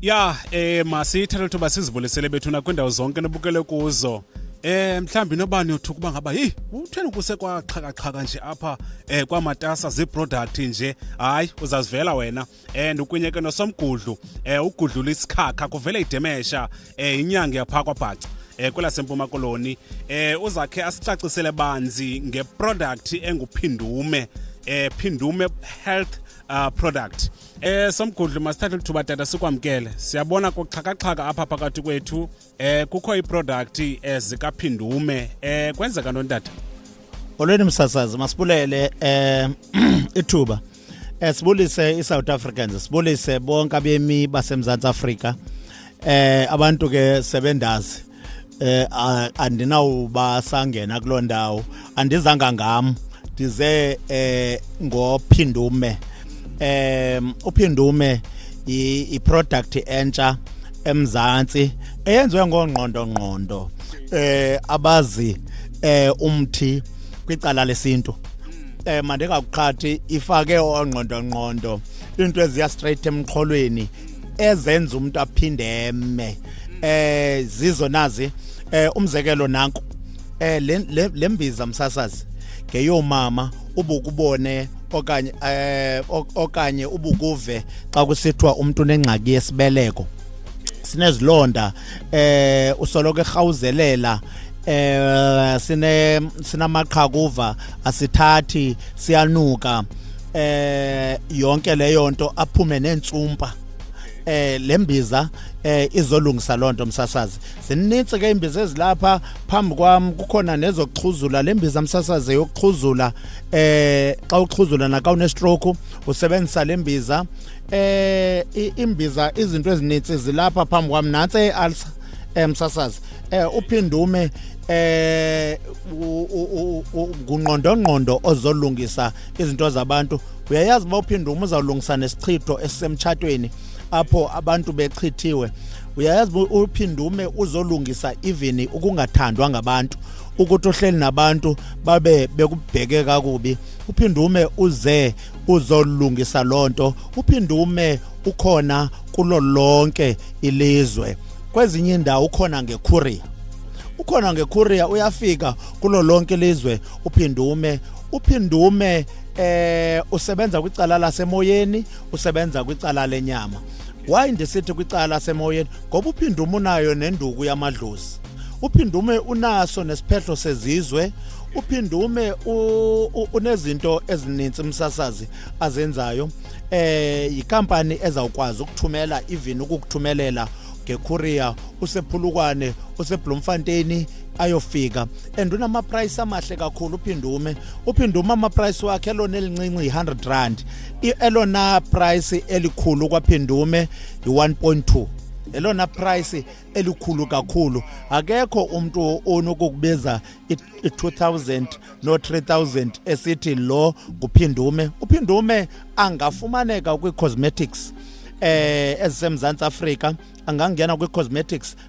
ya eh masiyithathe lithuba sizivulisele bethuna kwiindawo zonke nibukele kuzo eh mhlawumbi nobani yothuka uba ngaba yi utheni kuse kwaqhakaqhaka nje apha eh kwamatasa ziiproduct nje hayi uzazivela wena and ukunye ke nosomgudlu eh ugudlula isikhakha kuvele idemesha eh inyanga yapha kwabhaca eh kwelaseMpuma Koloni eh uzakhe asicacisele banzi ngeproduct enguphindume eh phindume health uh, product Eh somgudlu masithathe lithuba tata sikwamkele. Siyabona kuxhakaxhaka apha phakathi kwethu. Eh kukho iproduct ezika eh, Phindume. Eh kwenzeka ntoni tata? Olweni msasazi masibulele eh ithuba. Eh sibulise iSouth Africans, sibulise bonke abemi baseMzantsi Afrika. Eh abantu ke sebendazi eh andinawubasangena kuloo ndawo andizanga ngam ndize eh ngophindume um uphindume iproduct entsha emzantsi eyenziwe ngongqondo ngqondo eh abazi eh umthi kwicala lesintu eh mandingakuqhathi ifake ongqondo ngqondo into eziya straight emqholweni ezenza umuntu aphinde eme eh zizo nazi eh umzekelo nanku eh lembiza msasazi ngeyomama ubukubone okanye eh okanye ubukuve xa kusithiwa umuntu unengxaki yesibeleko sinezilonda eh usoloko erhawuzelela eh sine sinamaqhakuva asithathi siyanuka eh yonke leyo nto aphume neentsumpa eh lembiza eh izolungisa lonto msasazi sininzi ke imbiza ezilapha phambi kwam kukhona nezokuxhuzula lembiza msasazi yokuxhuzula eh xa uxhuzula naka une stroke usebenzisa lembiza eh imbiza izinto ezininzi zilapha phambi kwam nansi ealsa eh, msasazi eh uphindume eh ungqondongqondo ozolungisa izinto zabantu uyayazi uba uphinde uma uzawulungisa nesichitho esisemtshatweni apho abantu bechithiwe uyayazi uphinde ume uzolungisa even ukungathandwa ngabantu ukuthi uhleli nabantu babe bekubheke kakubi uphinde ume uze uzolungisa loo nto uphinde ume ukhona kulo lonke ilizwe kwezinye indawo ukhona ngekhuriya ukhona ngekhuriya uyafika kulo lonke ilizwe uphinde ume uphindume eh usebenza kwicala lasemoyeni usebenza kwicala lenyama why ndisithi kwicala lasemoyeni ngoba uphindume unayo nenduku yamadlozi uphindume unaso nesiphehlo sezizwe uphindume unezinto ezininzi umsasazi azenzayo eh yikampani ezawukwazi ukuthumela even ukukuthumelela ngeKorea usephulukwane useBloemfontein ayofika and unamaprice amahle kakhulu uphindume uphindume amaprice wakhe elona elincinci yi-100 rand elona price elikhulu kwaphindume yi-1.2 elona price elikhulu kakhulu akekho umuntu onokukubiza i-2000 no-3000 esithi lo nguphindume uphindume angafumaneka kwi-cosmetics eh ezisemzantsi Afrika angangena kwi-cosmetics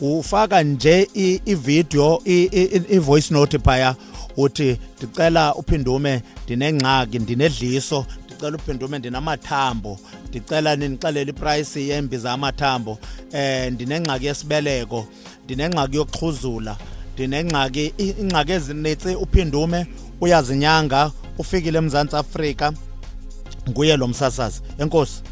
ufaka nje ivideo i-voice note phaya uthi ndicela uphindume ndinengxaki ndinedliso ndicela uphindume ndinamathambo ndicela nindixelele iprayisi yembiza amathambo um ndinengxaki yesibeleko ndinengxaki yokuxhuzula ndinengxaki ingxaki ezinitsi uphindume uyazinyanga ufikile emzantsi afrika nguye lo msasazi enkosi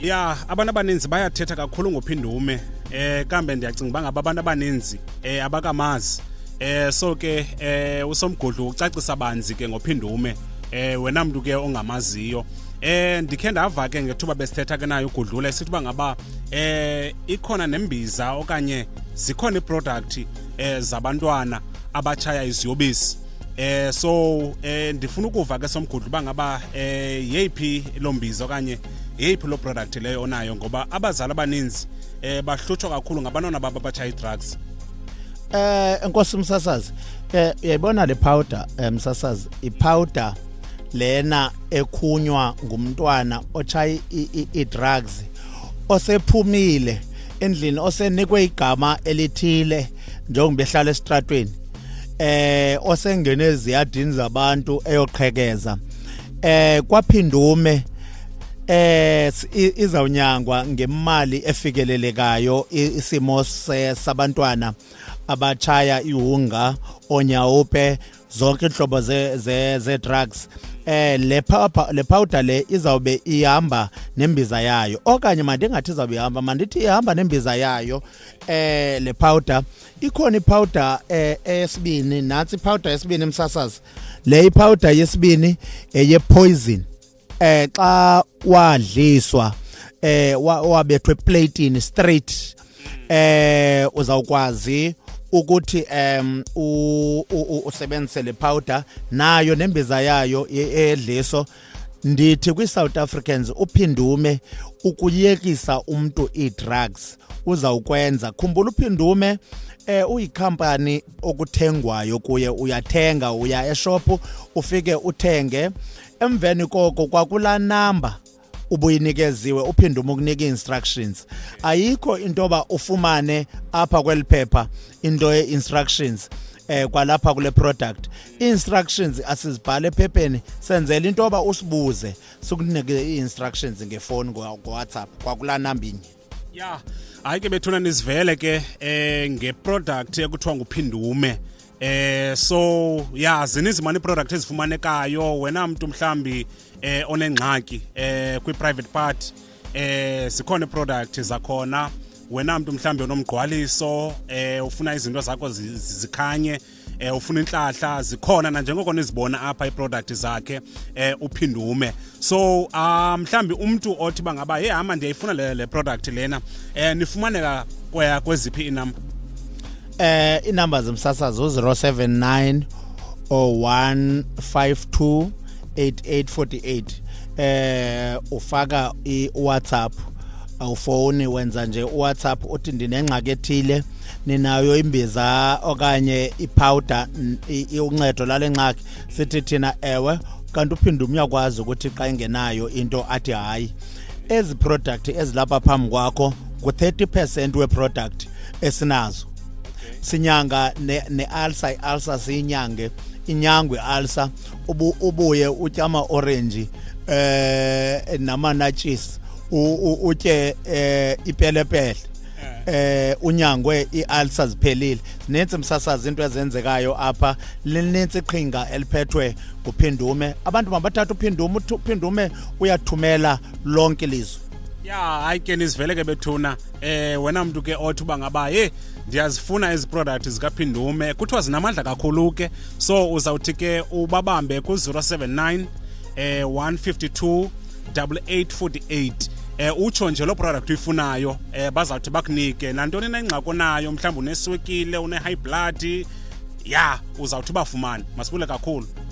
ya abantu abaninzi bayathetha kakhulu ngophindume eh kambe ndiyacinga uba ngaba abantu abaninzi eh abakamazi eh so ke eh usomgodlu ucacisa banzi ke ngophindume eh wena mntu ke ongamaziyo eh ndikhe ndava ke ngethuba besithetha ke nayo ugudlula esithi uba ngaba eh ikhona nembiza okanye zikhona iiproduct eh zabantwana abatshaya iziyobisi eh so eh ndifuna ukuva ke somgudlu uba ngaba eh yeyiphi lo mbizo okanye yeyiphi lo product leyo onayo ngoba abazali abaninzi eh bahlutshwa kakhulu ngabantwana babo abatshaye i-drugs eh enkosi umsasazi eh uyayibona le powder eh, msasazi ipowder lena ekhunywa ngumntwana otshaye i-drugs osephumile endlini osenikwe igama elithile njengoba behlala esitratweni eh osengene eziyadini zabantu eyoqhekeza eh kwaphindume eh izawunyangwa ngemali efikelelekayo isimo sabantwana abachaya ihunga onyawupe zonke inhlobo ze ze, ze drugs eh le le powder le izawube ihamba nembiza yayo okanye mandingathi izawube ihamba mandithi ihamba nembiza yayo eh le powder ikhona ipowder eh eyesibini nathi ipowder yesibini emsasazi le ipowder yesibini eye poison eh xa wadliswa eh wabethwe platini straight eh uzawukwazi ukuthi em usebenzise le powder nayo nembiza yayo edliso ndithi kwi-south africans uphindume ukuyekisa umntu ii-drugs uzawukwenza khumbula uphindume eh uyikhampani okuthengwayo kuye uyathenga uya eshophu ufike uthenge emveni koko kwakulaa namba ubuyinikeziwe uphinde umukunika instructions ayikho into ba ufumane apha kweliphepha into ye instructions eh kwalapha kule product ii-instructions asizibhale ephepheni senzela into yoba usibuze sikunike ii-instructions ngefowuni ngowhatsapp kwakulaa namba inye ya hayi ke bethuna nizivele ke eh ngeproduct ekuthiwa nguphindume eh so ya zininzi mani iproduct ezifumanekayo wena mntu mhlambi eh onengxaki eh kwi-private part eh zikhona iproduct zakhona wena mntu mhlambi onomgqwaliso eh ufuna izinto zakho zikhanye eh ufuna inhlahla zikhona na njengoko nizibona apha iproduct zakhe eh uphindume so um mhlambi umuntu othi bangaba hey hama ndiyayifuna le, le product lena eh nifumaneka kwaya kweziphi inumber eh inumber zomsasazo 079 0152 8848 eh ufaka i WhatsApp awufoni wenza nje uWhatsApp uthi ndinengxaki ethile ninayo imbiza okanye iphawuda uncedo lale ngxaki sithi thina ewe kanti uphinde umyakwazi ukuthi xa engenayo into athi hayi ezi product ezilapha phambi kwakho ngu-30 percent weproduct esinazo sinyanga ne-alsa ne i-alsa siyinyange inyangwe i-alsa ubu, ubuye utya ama-orenji eh namanatshisi utye eh ipelepele eh unyangwe ialsa ziphelile ninzi msasazi into ezenzekayo apha lininzi iqhinga eliphethwe nguphindume abantu mabathatha uphindume uphindume uyathumela lonke ilizwe ya hayi ke nizivele ke bethuna eh wena mntu ke othi uba ngaba he ndiyazifuna ezi product zikaphindume kuthiwa zinamandla kakhulu ke so uzawuthi ke ubabambe ku-079 eh 152 8848 eh utsho nje lo product uyifunayo eh bazawuthi bakunike nantoni na ingxaki onayo mhlawumbi uneswekile une-high blood ya uzawuthi ubafumane masibule kakhulu